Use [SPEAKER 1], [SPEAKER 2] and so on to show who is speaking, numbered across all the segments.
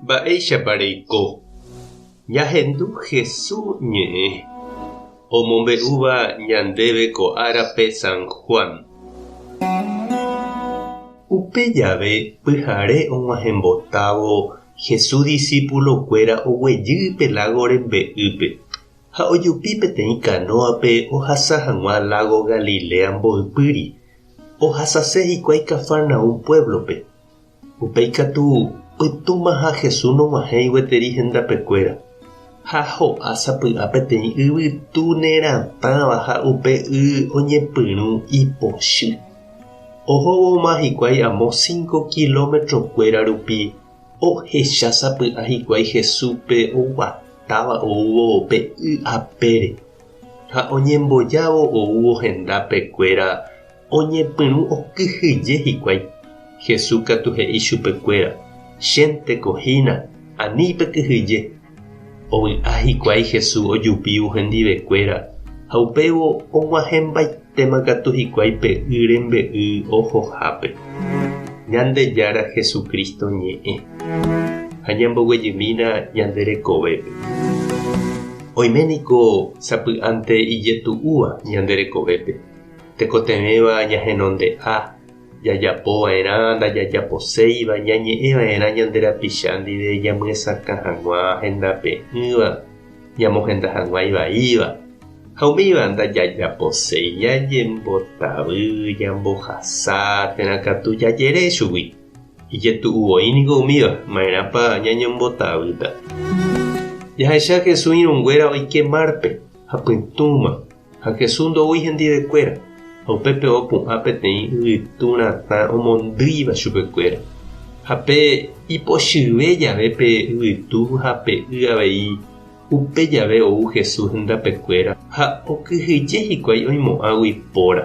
[SPEAKER 1] Mba'éichapa reiko ñahendu Jesús ñe'ẽ omombe'úva ñandéve ko árape San Juan? Upe jave pyhare og̃uahẽmbotávo Jesús disípulokuéra oguejy pe lágo rembe'ýpe ha ojupi peteĩ kanóape ohasa hag̃ua lágo Galilea mboypýri. Ohasase hikuái Cafarnaúm puévlope. Upéi katu, pytũmaha Jesús nog̃uahẽi gueteri hendapekuéra, ha ho'a sapy'a peteĩ yvytu neratãva ha upe y oñepyrũ ipochy. Ohóvoma hikuái amo cinco kilómetrokuéra rupi, ohecha sapy'a hikuái Jesúspe oguatáva oúvo pe y apére. Ha oñembojávo oúvo hendápe kuéra oñepyrũ okyhyje hikuái. Jesús katu he'i chupe kuéra, Chénteko hína, ani pe kyhyje. Ovy'a hikuái Jesús ojupívo hendive kuéra, ha upévo og̃uahẽmbaite. Térã katu hikuái pe y rembe'y ohohápe, Ñandejára Jesucristo ñe'ẽ, ha ñamboguejymína ñande rekovépe. Oime niko sapy'ánte ijetu'úva ñande rekovépe, tekotevẽva ñahenonde'a, jajapo va'erã ndajajaposéiva, ñañe'ẽ va'erã ñande rapicha ndive ñamyesakã hag̃ua hendape'ỹva, ñamohenda hag̃ua ivaíva ha umíva ndajajaposéi ñañembotavy ñambohasa térã katu jajere chugui. Ijetu'u voi niko umíva, ma'erãpa ñañembotavýta. Jahecha Jesús irũnguéra oike márpe ha pytũma. Ha Jesús ndoúi hendivekuéra, ha upépe opu'ã peteĩ yvytu ratã omondýiva chupekuéra. Ha pe ipochyve jave pe yvytu ha pe y avei, upe jave ou Jesús hendapekuéra ha okyhyje hikuái oimo'ãgui póra.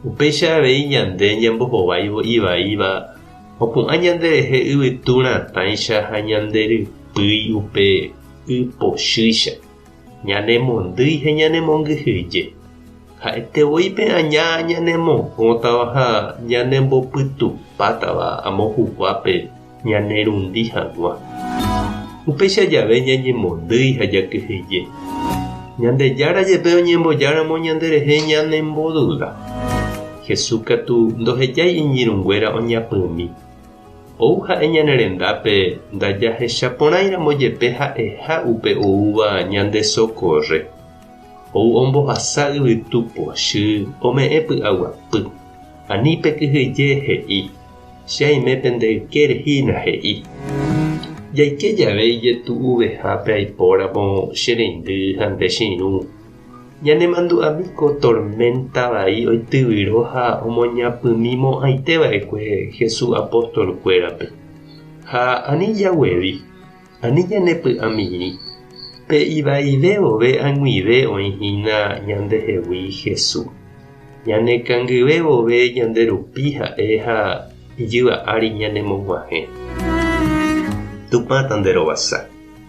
[SPEAKER 1] Upéicha avei ñande ñambohováivo ivaíva opu'ã ñanderehe yvytu ratãicha ha ñande rypýi upe y pochýicha. Ñanemondýi ha ñanemongyhyje. Ha'ete voi pe aña ñanemohõtava ha ñanembopytupátava amo huguápe ñanerundi hag̃ua. Upéicha jave ñañemondýi ha jakyhyje. Ñandejára jepe oñembojáramo ñanderehe ñanemboduda. Jesús katu ndohejái iñirũnguéra oñapymi, Ou ha'e ñane rendápe ndajahecha porãiramo jepe ha'eha upe oúva ñande sokórre. Ou ombohasa yvytu pochy ome'ẽ py'aguapy. Ani pe kyhyje he'i, Che aime pende ykére hína, he'i. Jaike jave ijetu'uvehápe aipóramo che reindy ha nde che irũ, Ñanemandu'ámi ko torménta vai oityvyro ha omoñapymi mo'ãite va'ekue Jesús apóstolkuérape. Ha ani jaguevi, ani ñanepy'amirĩ, pe ivaive vove ag̃uive oĩ hína ñandehegui Jesús. Ñanekangyve vove ñande rupi ha'e ha ijyva ári ñanemog̃uahẽ. Tupãta nderovasa.